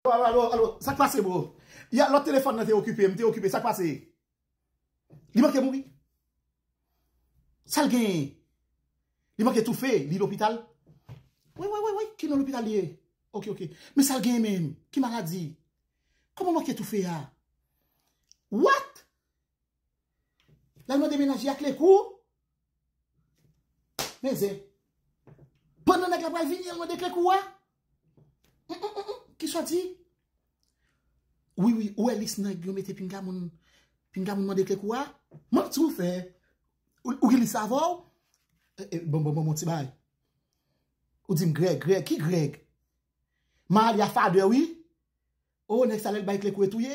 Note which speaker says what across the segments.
Speaker 1: Alo alo sak pase bro. Ya lot telefon nan te okipe m te okipe sak pase. Li manke mouri. Sal gen. Li manke toufe li lopital. Wi wi wi ki nan lopital li ye. Ok ok men sal gen men ki maladi. Koman manke toufe a. What. La lwa de menaje ak le kou. Men zen. Pon nan nèk la pral vini an lwa de kle kou a. Ki soti. Wi wi ou e lis nan yon mete pinga moun. Pinga moun mwen de kle kou a. Mwen ti ou fe. Ou ki lis avò. Bon bon bon bon ti bay. Ou di m greg greg ki greg. Ma li a fade wi. Ou nèk sa lèl bay kle kou e touye.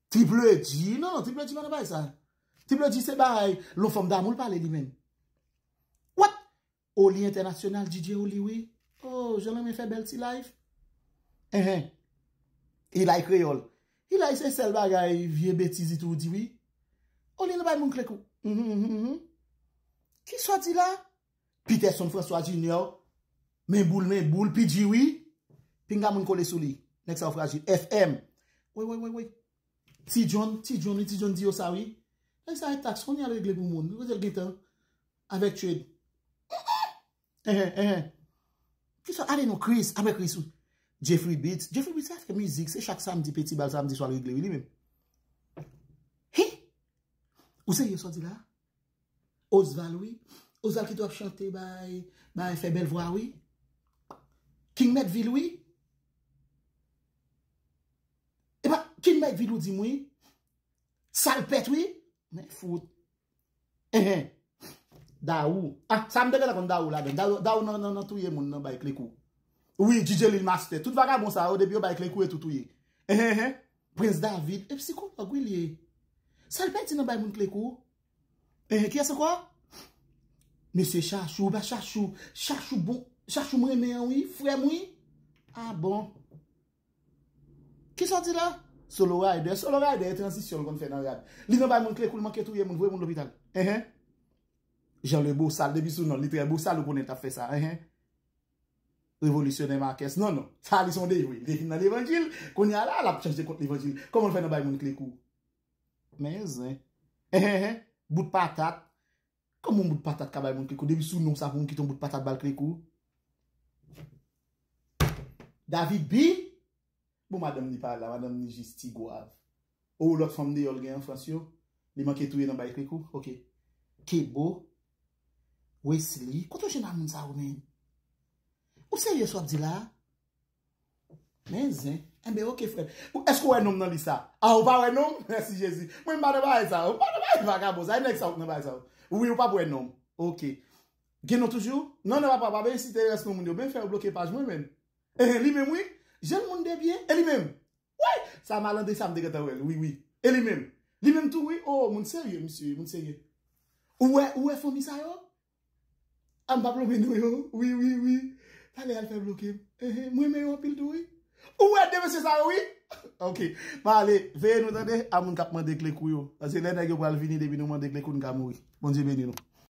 Speaker 1: Tipledi non non tipledi pa nan bagay sa tipledi se bay lon fanm damou l pale li menm what oh li entènasyonal DJ oh li wi oh jan lanmen fè bèl ti live enh Eli kreyòl Eli se sèl bagay vye betiz itou ou di wi oh li nan bay moun kle kou hum hum hum hum kisa w di la. Peterson François Junior Men boul men boul PG wi Pinga moun kole sou li Nèg sa yo frajil FM Woy woy woy woy Ti John Ti John wi Ti John di yo sa wi Nèg sa e tax konn li al regle pou moun Kote l gentan Avèk Trade Enh enh enh Kisa ale non Chris Apre Chris ou Jeffrey Beats Jeffrey Beats sa fè mizik se chak samdi Petit bal samdi swa l regle wi li menm Hi Ou serye sa w di la a Osval wi Osval kite wap chante bay bay fè bèl vwa wi King mèt vil wi epa King mèt vil ou dim wi sal pèt wi men fout ehe Daou a sa mte gentan konn Daou ladann Daou nan touye moun nan bay kle kou wi DJ Lil Master tout vagabon sa yo depi yo bay kle kou yo tou touye ehe. Prince David e psikològ wi li ye. Sa l pèdi nan bay moun kle kou? Ehe kiyès ankò? Mesye Chachou, ba Chachou, Chachou bon, Chachou m renmen an wi, frè m wi. Ah bon. Kisa w di la? Solo Rider, Solo Rider e tranzisyon l konn fè nan rad. Li nan bay moun kle kou l manke touye moun, voye moun lopital. Ehe. Jean le bosal, depi sou non l li trè bosal ou konnen l t ap fè sa. Ehe. Revolisyonè Marques, Non, non. Sa li se yon dejwe. Li te fin nan levanjil, kounye a la, l ap chanje kont levanjil. Kòman l fè nan bay moun kle kou? Men zen. Ehehe! Bout patat! Kòman yon bout patat ka bay moun kle kou? Depi sou non sa pou moun kite yon bout patat ba l kle kou? David, Bi! Bon madanm li pa la madanm li jis ti gwav oh lòt fanm deyò l gen an frans yo li manke touye nan bay krik ou ok. Kebo, Wesley kote w jwenn a moun sa yo menn? Ou serye sa w ap di la a? Men zen. Enben ok frè m. Èske w wè non m nan lis la? Ah ou pa wè non m? Mèsi Jezi. Mwen m pa nan bagay sa yo. M pa nan bagay vagabon sa yo. E nèg sa yo ki nan bagay sa yo? Wi ou pap wè non m. Ok. Gen non toujou? Non non papa pa byen site rès non moun yo. Ben fè yo bloke paj mwen menm. Ehe li menm wi Jel moun de byen e li menm Woy sa malandrin sa m te gentan wel wi wi e li menm Li menm tou wi oo moun serye misye ye moun serye Ou wè ou wè fanmi sa yo A m pa plonbe non yo wi wi wi Talè al fè bloke m ehe m renmen yo anpil tou wi Ou wè 2 mesye sa yo wi Ok ma ale veye nou tande a moun k ap mande kle kou yo paske lè nèg yo pral vini depi nou mande kle kou n ka mouri Bondye beni nou.